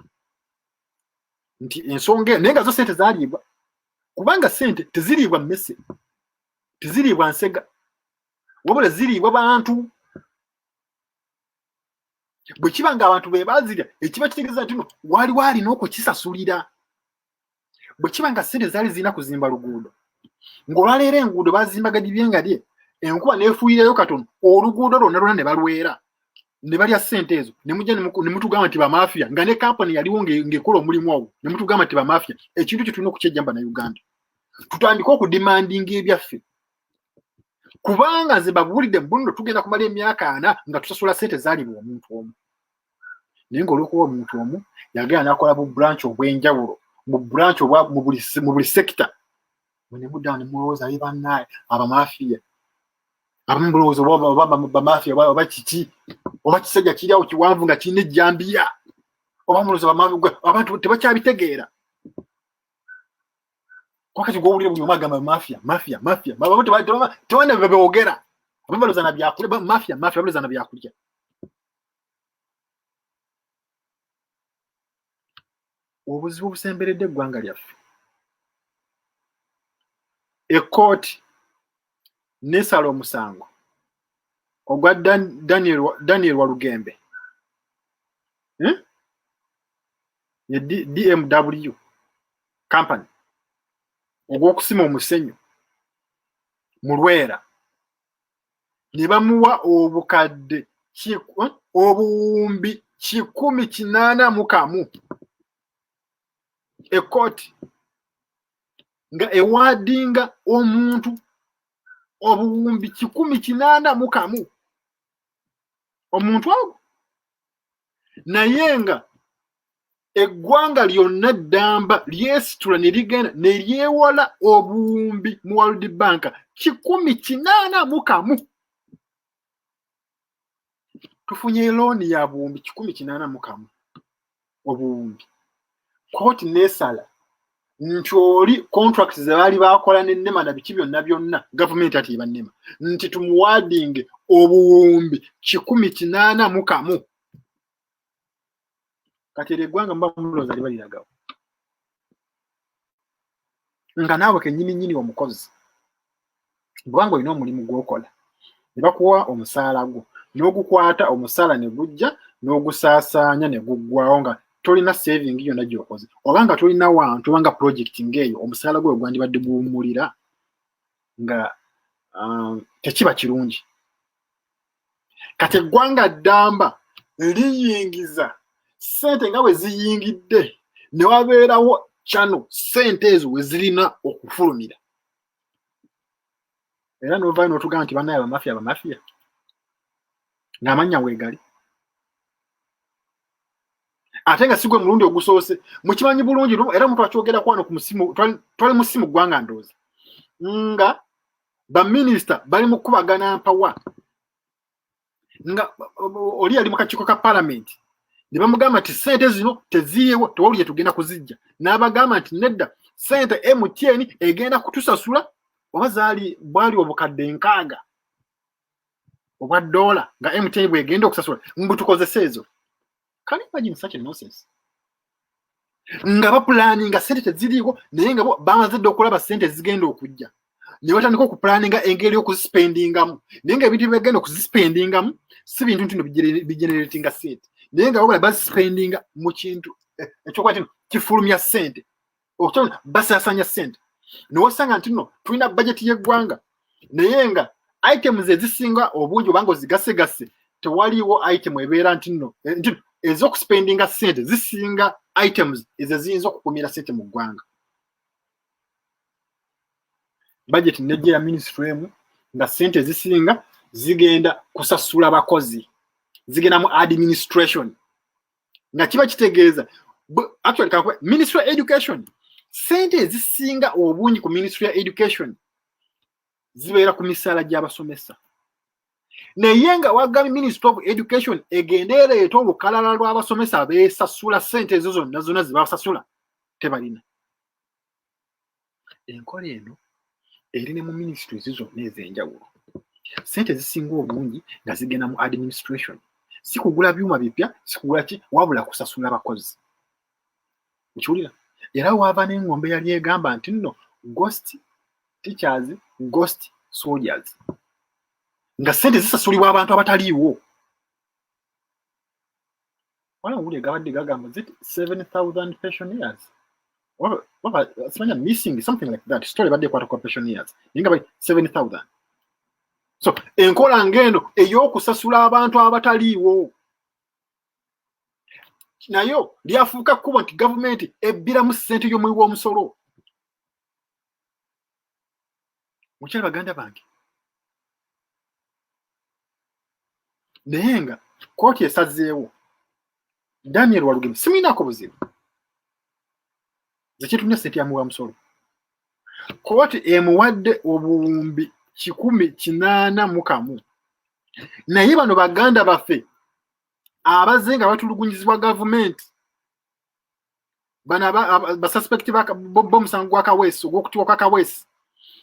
nti ensonga naye nga zo sente zaliibwa kubanga sente teziriibwa mmese teziriibwa nsega wabula ziriibwa bantu bwe kiba ng'abantu be bazirya ekiba kitegeeza nti no waliwo alina okukisasulira bwe kiba nga ssente zaali zirina kuzimba luguudo ng'olwaleero enguudo bazimbaga gibye nga lye enkuba neefuuyirayo katono oluguudo lwonna lwona ne balwera ne balya ssente ezo ne mujja ne mutugamba nti bamafiya nga ne kampani yaliwo ng'ekola omulimu ogwo ne mutugamba nti bamafiya ekintu kye tulina okukyejjamba na uganda tutandike okudimandinga ebyaffe kubanga nze babuulidde bunno tugenda kumala emyaka ana nga tusasula sente zaalibwa omuntu omu naye ngaolwokuba omuntu omu yagenda nakola bu branch obwenjawulo mu branch mu buli sekita mwenemudaa nemulowooza ye banaye abamafiya abamu bulowooza obabamafiya oba kiki oba kisajja kiriawo kiwanvu nga kirina ejjambiya oba mulowooza abantu tebakyabitegeera wakati gwowulira buli omu agamba mafia mafia mafia tewana bebewogera ababaloza na byakulya mafia mafia abaloza na byakulya obuzibu obusemberedde eggwanga lyaffe ekkooti nesala omusango ogwa daniel walugembe hmm? ye DMW company ogw'okusima omusenyu mu Lwera ne bamuwa obukadde eh, obuwumbi kikumi kinaana mu kamu ekkooti nga ewaadinga omuntu obuwumbi kikumi kinaana mu kamu omuntu ogwo naye nga eggwanga lyonna ddamba lyesitula ne ligenda ne lyewola obuwumbi mu world bank kikumi kinaana mu kamu tufunye looni ya buwumbi kikumi kinaana mu kamu obuwumbi kooti neesala nti oli contract ze baali baakola ne nema na biki byonna byonna gavumenti ati eba nema nti tumuwaadinge obuwumbi kikumi kinaana mu kamu kati eryo eggwanga muba mulooza liba liragawo nga naawe kenyini nyini omukozi bwanga olina omulimu gwokola ne bakuwa omusaala gwo n'ogukwata omusaala ne gujja n'ogusaasaanya ne guggwawo nga tolina saving yonna gyokoze oba nga tolina wantu oba nga projekiti ng'eyo omusaala gwe ogwandibadde guwummulira nga um, tekiba kirungi kati eggwanga ddamba liyingiza sente nga bwe ziyingidde ne wabeerawo kyano sente ezo we zirina okufulumira era novayo notugamba nti banaye abamafiya abamafiya ng'amannya weegali ate nga sigwe mulundi ogusoose mukimanyi bulungi era omuntu akyogerako wano ku musimu twali musimu ggwanga ndoozi nga baminisita bali mu kukubagana mpawa nga oli yali mu kakiiko ka palamenti ne bamugamba nti sente zino teziriiwo tewali gye tugenda kuzijja n'abagamba nti nedda sente mtn egenda kutusasula oba zaali bwali obukadde nkaaga obwa doola nga mtn bwegenda okusasula mbu tukozese ezo can imagine such a nonsense nga bapulaninga sente teziriiko naye nga bamaze dde okulaba sente ezigenda okujja ne batandika okupulaninga engeri y'okuzisipendingamu naye nga ebintu byebagenda okuzisipendingamu si bintu ntino bigeneratinga sente naye nga babula bazisipendinga mu kintu eh, ekyokuba kino kifulumya sente okutawuna basasanya sente newosanga nti no tulina bajeti yeggwanga naye nga items ezisinga obungi obanga ozigasegase tewaliwo item ebeera nti no eh, nti ezokuspendinga sente zisinga items ezo eziyinza okukumira sente mu ggwanga bajeti nejja ya minisitule emu nga sente ezisinga zigenda kusasula bakozi zigenda mu administration nga kiba kitegeeza actually kakuba ministry of education sente ezisinga obungi ku ministry ya education zibeera ku misaala gy'abasomesa naye nga wagambye ministry of education egende ereeta olukalala lw'abasomesa beesasula sente ezo zonna zonna zebasasula tebalina enkola eno eri ne mu ministries zonna ez'enjawulo sente zisinga obungi nga zigenda mu administration si kugula byuma bipya si kugula ki wabula kusasula bakozi nkiwulira era waava n'engombe yali egamba nti nno ghost teachers ghost soldiers nga sente zisasulibwa abantu abataliiwo wala owulira gabadde gagamba zit 7000 pensioners simanya missing something like that story badde ekwata kwa pensioners naye nga bali 7000 so enkola ng'eno ey'okusasula abantu abataliiwo nayo lyafuuka kkubo nti gavumenti ebbiramu ssente y'omuwi w'omusolo mukyala baganda bange naye nga kooti esazeewo daniel walugeme simuyinako buzibu zekyetumya sente yamuwa musolo kooti emuwadde obuwumbi kikumi kinaana mu kamu naye bano baganda baffe abaze nga batulugunyizibwa gavumenti bano basuspect bomusango gwa kaweesi ogwokutibwa kwa kaweesi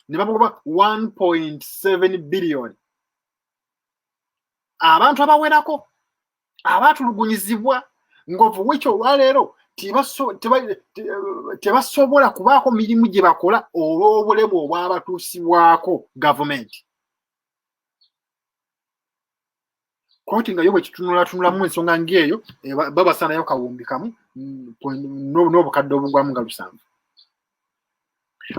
ne babagoba 1.7 billion abantu abawerako abatulugunyizibwa ngaovu wiki olwaleero tebasobola kubaako mirimu gye bakola olw'obulemu obwabatuusibwako gavumenti kkooti nga yo bwe kitunulatunulamu ensonga ng'eyo eh, babasaanayo kawumbi kamu mm, n'obukadde obugwamu nga lusanvu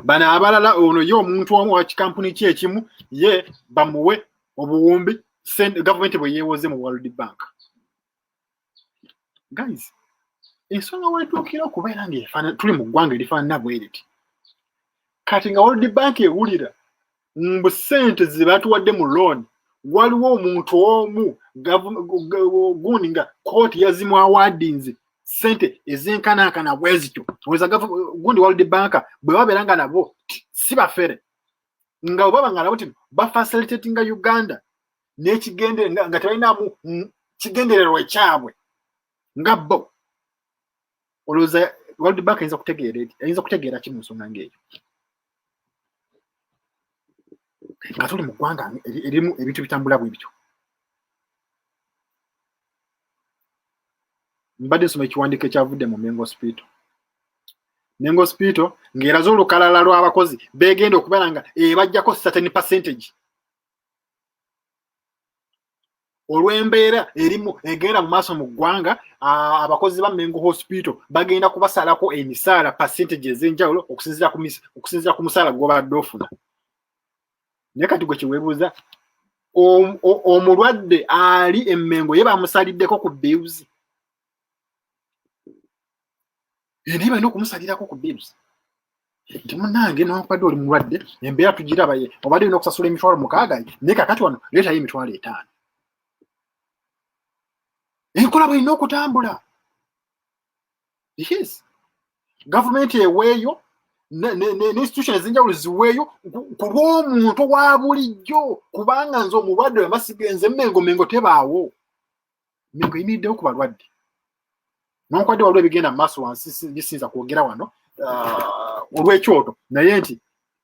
bano abalala ono ye omuntu omu wa kikampuni ki ekimu ye bamuwe obuwumbi gavumenti bwe yeewoze mu world bank guys ensonga wetuukira okubeera nga tuli mu ggwanga erifaanana bweriti kati nga world bank ewulira mbu sente zebatuwadde mu loan waliwo omuntu omu gundi nga kooti yazimwawadinze sente ezenkanankana bwezityo oza gundi world bank bwe babeera nga nabo si bafere nga obaba nga nabo ti bafacilitatinga uganda nekigende nga tebalinamu kigendererwa ekyabwe nga bo olowooza world bank ayinza kutegeera ayinza kutegeera ki mu nsonga ngaeyo nga tuli mu ggwanga erimu ebintu bitambula bwe bityo mbadde nsoma ekiwandiiko ekyavudde mu mengo spiito mengo spiito ng'eraze olukalala lw'abakozi beegenda okubala nga ebajjako certain percentage olw'embeera erimu egenda mu maaso mu ggwanga abakozi ba mengo hospital bagenda kubasalako emisaala percentage ez'enjawulo okusinzira ku musaala gwobadde ofuna naye kati gwe kyewebuuza omulwadde ali emengo ye bamusaliddeko ku bills eh, naye balina okumusalirako ku bibs nti munange newakubadde oli mulwadde embeera tugiraba ye obadde olina okusasula emitwalo mukaaga naye kakati wano leetayo emitwalo etaano enkola bwelina okutambula yes gavumenti eweeyo neinstitution ezenjawulo ziweeyo ku lw'omuntu wa bulijjo kubanga nze omulwadde wemasigenze mengo mengo tebaawo mengo eyimiriddewo ku balwadde nonkwadde waliwo ebigenda mu maaso wansi bisinza kwogera wano ah, olw'ekyoto naye nti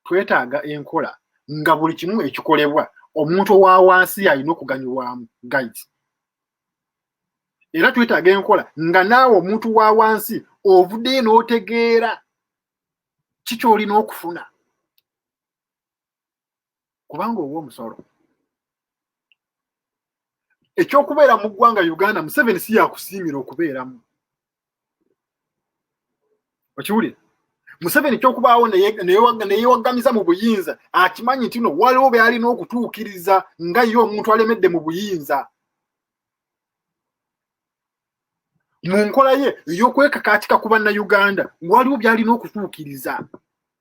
twetaaga enkola nga buli kimu ekikolebwa omuntu owa wansi alina okuganyulwamu guide era twetaaga enkola nga naawe omuntu wa wansi ovuddeyo n'otegeera kikyolina okufuna kubanga owa omusolo ekyokubeera mu ggwanga uganda museveni si yakusiimira okubeeramu okiwulira museveni kyokubaawo neyewaggamiza mu buyinza akimanyi nti no waliwo byalina okutuukiriza nga ye omuntu alemedde mu buyinza mu nkola ye eyokwekakaatika ku bannayuganda waliwo byalina okutuukiriza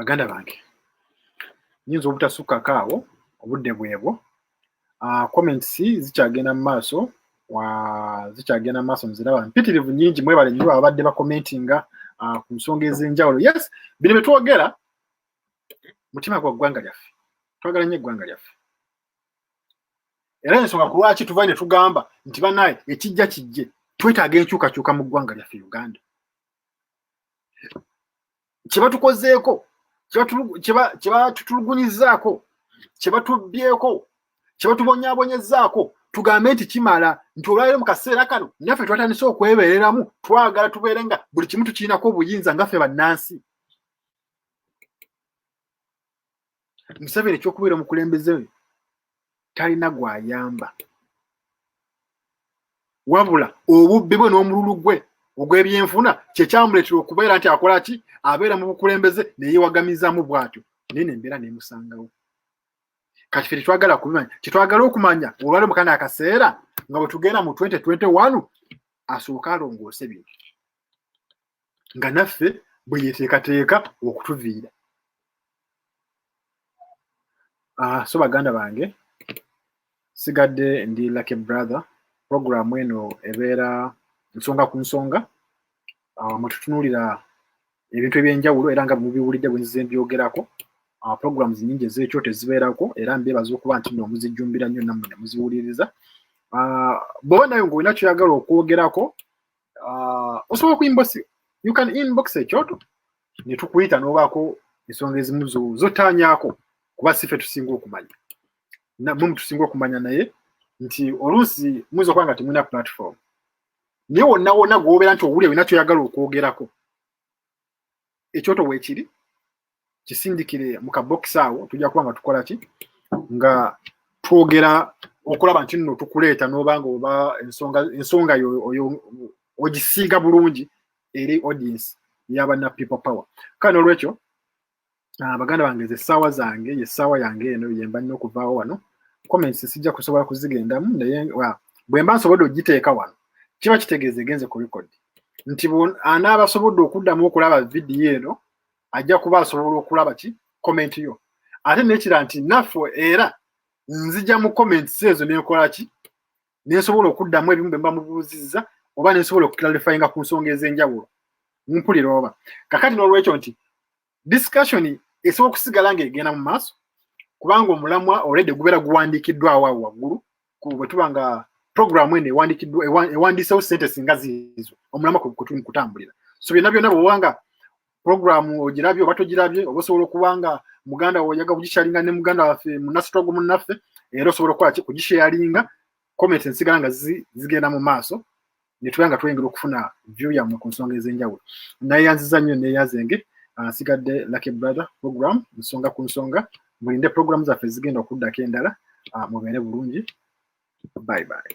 baganda bange nyinza obutasukkako awo obudde bwebwo ah, comments zikyagenda mu maaso zikyagenda mu maaso nziraba mpitirivu nyingi mwebale nyo ababadde bakomentinga ah, ku nsonga ez'enjawulo yes bino bye twogera mutima gwa ggwanga lyaffe twagala nyo eggwanga lyaffe era ensonga ku lwaki tuva ne tugamba nti banaye ekijja kijje twetaaga enkyukakyuka mu ggwanga lyaffe uganda kyebatukozeeko kyebatutulugunyizaako kyebatubbyeko kyebatubonyabonyezaako tugambe nti kimala nti olwaliro mu kaseera kano naffe twatandise okwebeereramu twagala tubeere nga buli kimu tukirinako obuyinza ngaffe bannansi museveni ekyokubeera omukulembeze we talina gwayamba wabula obubbi bwe n'omululu gwe ogw'ebyenfuna kyekyamuleetera okubeera nti akola ki abeera mu bukulembeze neyewagamizamu bwatyo naye nembeera nemusangawo kati fe tetwagala kubimanya kyetwagala okumanya olwali mukana akaseera nga bwetugenda mu 2021 asooke alongoose bino nga naffe bwe yeteekateeka okutuviira ah, so baganda bange sigadde ndi lucky brother program eno ebeera nsonga ku nsonga ah, mwetutunuulira ebintu ebyenjawulo era nga mubiwulidde bwe nzize mbyogerako ah, programs nyingi ezekyo tezibeerako era mbeebaza okuba nti no muzijjumbira nnyo nammwe ne muziwuliriza bwoba nayo ngaolina kyoyagala okwogerako uh, osobola okuinbox you can inbox ekyoto netukuyita nobaako ensonga ezimu zotaanyako kuba sife tusinga okumanya mwe mutusinga okumanya naye nti oluusi muyinza okuba nga temulina platform naye wonna wonna gwobeera nti owulira olina kyoyagala okwogerako ekyoto weekiri kisindikire mu kabokisi awo tujja kuba nga tukola ki nga twogera okulaba nti nno tukuleeta n'obanga oba ensonga yo oyo ogisiiga bulungi eri audience yabana people power kale nolwekyo Ah, baganda bange ze ssaawa zange ye ssaawa yange eno yemba nnyo okuvaawo wano comments sijja kusobola kuzigendamu naye bwe mba nsobodde okugiteeka wano kiba kitegeeza egenze ku record nti anaaba asobodde okuddamu okulaba vidiyo eno ajja kuba asobola okulaba ki comment yo ate nekira nti naffe era nzija mu comments ezo nenkola ki nensobola okuddamu ebimu bwe mba mubuuzizza oba nensobola okuclarifyinga ku nsonga ez'enjawulo mumpulira oba kakati n'olwekyo nti discussion esobola okusigala ng'egenda mu maaso kubanga omulamwa olwedde gubeera guwandiikiddwawo awo waggulu bwe tuba nga programu eno ewandiisewo sente singa ziizo omulamwa kwetulimu kutambulira so byonna byonna bwewanga programu ogirabye oba togirabye oba osobola okuba nga muganda woyaga kugisharinga ne muganda waffe munasitwago munnaffe era osobola okukola ki kugisharinga comment ensigala nga zigenda mu maaso netuba nga tweyingira okufuna view yammwe ku nsonga ez'enjawulo nayeyanziza nnyo neeyazenge nsigadde ah, lucky brother program nsonga ku nsonga mulinde program zaffe zigenda okuddako endala ah, mubeere bulungi bye bye